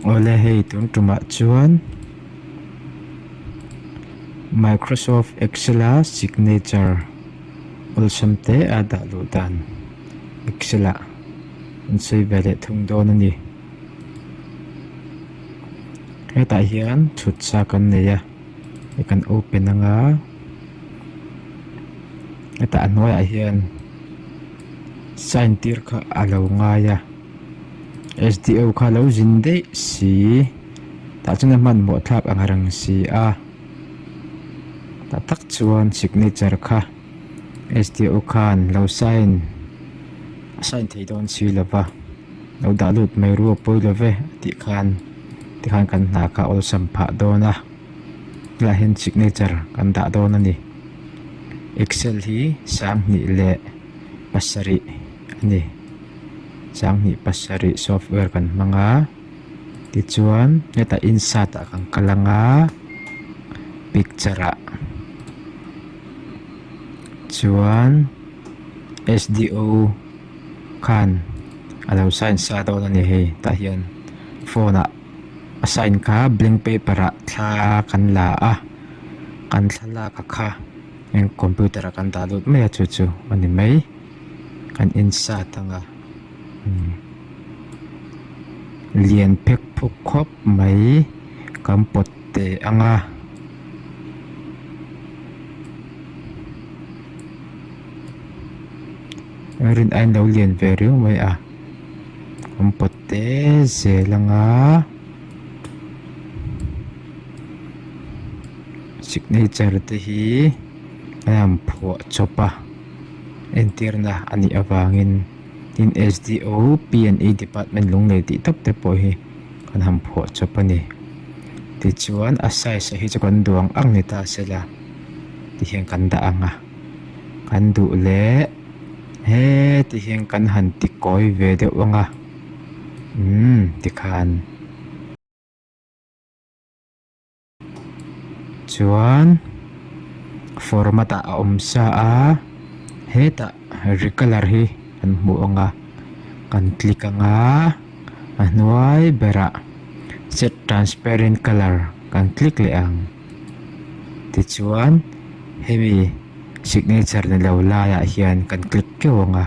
Awle hei tun tumah chuan Microsoft Excel a signature awlsam te a dah luh dan Excel ah an sawi ve leh thung dawn a ni. hetah hian thut sa kan nei a hei kan open ang a hetah a hnuai ah hian sign tir kha a lo ngai a sdo kha lo zin daih si tah chuan a hmanhmawh thlak ang rang si a tah tak chuan signature kha-- Sdo khan lo sign a sign thei dawn si lo va, lo dah lut mai ru a pawi lo ve tih khan tikhan kan hna kha awlsam phah dawn a, khilaiah hian signature kan dah dawn a ni, Excel hi sanghnih leh pasarih a ni, sanghnih pasarih software kan hmang a. Tichuan heta insert ah kan kal ang a picture ah chuan sdo khan a lo sign sa dawn a ni hei tah hian phone ah a sign kha blank paper ah thla kan la a kan thlalak a kha heng computer ah kan dah lut mai a chu chu a ni mai kan insert ang a. lian phek phawk khawp mai kan pawt teh ang a. Rin ain lo lian ve riau mai a, kan pawt te zel ang a, signature te hi a han phuah chawp a, entirna a nih avangin. Tin, SDO, PNE Department lunglei tih tak te pawh hi kan han phuah chawp a ni. Tichuan, a size-a hi chu kan duang ang ni ta se la, ti hian kan dah ang a. Kan duh leh he ti hian kan han ti kawi ve deuh ang a. Umm, tikhan. chuan format ah a awm sa a hetah recolor hi kan hmu ang a kan click ang a a hnuai berah set transparent colour kan click leh ang tichuan hemi signature ni lo laiah hian kan click teuh ang a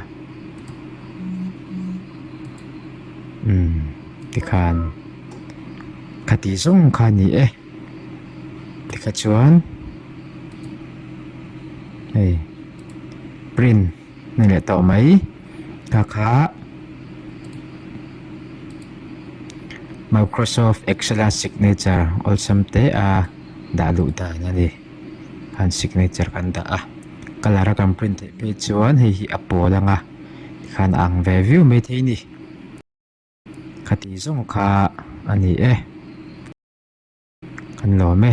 umm tikhan. Ka tih zawng kha ni e. Tikah chuan hei print ni leh tawh mai ka kha Microsoft Excel a signature awlsam te a dah luh dan a ni. Khan signature kan dah a, colour a kan print theih phei chuan hei hi a pawl anga khan a ang ve viau mai thei a ni. Khati zawng kha a ni e. Kan lawm e.